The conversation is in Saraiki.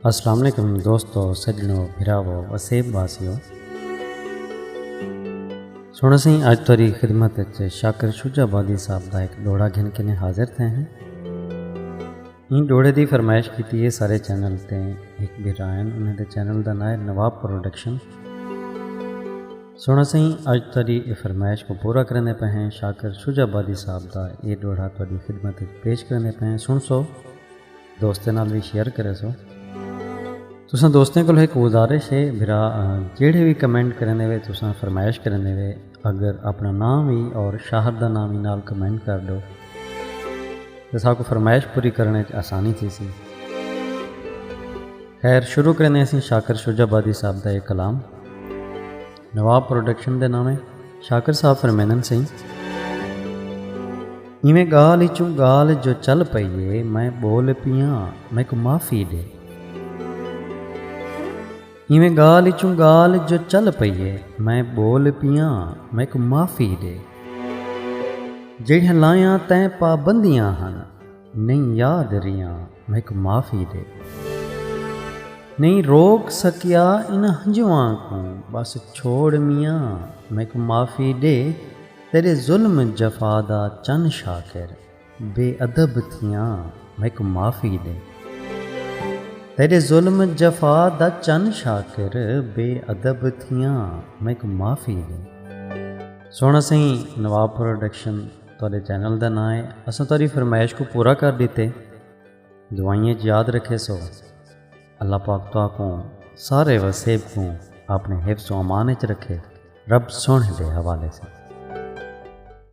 السلام علیکم دوستو سجنو بھراو وسیب واسیو سونا سائیں اج تاری خدمت وچ شاکر شجا بادی صاحب دا ایک ڈوڑا گھن کے نے حاضر تھے ہیں این ڈوڑے دی فرمائش کیتی ہے سارے چینل تے ایک بھرائن انہیں دے چینل دا نائے نواب پروڈکشن سنڑو سئیں اج تہاڈی اے فرمائش کوں پورا کریندے پئے ہیں شاکر شجاع آبادی صاحب دا اے ڈوہڑا تہاڈی خدمت اچ پیش کریندے پئے ہیں سنڑسو دوستیں نال وی شیئر کریسو۔ تساں دوستیں کولوں ہک گزارش اے بھرا جیڑھے وی کمنٹ کریندے وے تساں فرمائش کریندے وے اگر اپنا ناں وی اور شہر دا ناں وی نال کمنٹ کر ڈو تاں ساکوں فرمائش پوری کرنڑ اچ آسانی تھیسی۔ خیر شروع کریندے ہیں سئیں شاکر شجاع آبادی صاحب دا اے کلام۔ نواب پروڈکشن دے ناویں شاکر صاحب فرمیندن سئیں۔ ایویں ڳالھ اچوں ڳالھ جو چل پئی اے میں ٻول پیاں میکوں معافی ݙے۔ ایویں ڳالھ اچوں ڳالھ جو چل پئی اے میں ٻول پیاں میکوں معافی ݙے۔ جیڑھیاں لائیاں تیں پابندیاں ہن۔ نئیں یاد ریاں میک معافی ڈے۔ نئیں روک سکیا انہاں ہنجواں کوں بس چھوڑ میاں میک معافی ڈے تیڈے ظلم جفا دا چن شاکر بے ادب تھیاں میک معافی ڈے تیڈے ظلم جفا دا چن شاکر بے ادب تھیاں میک معافی ڈے۔ سوہنا سئیں نواب پروڈکشن۔ تہاڈے چینل دا ناں ہے اساں تہاڈی فرمائش کوں پورا کر ڈتے دعائیں اچ یاد رکھے سو اللہ پاک تہاں کوں سارے وسیب کوں اپنے حفظ و امان اچ رکھے رب سنڑ دے حوالے سے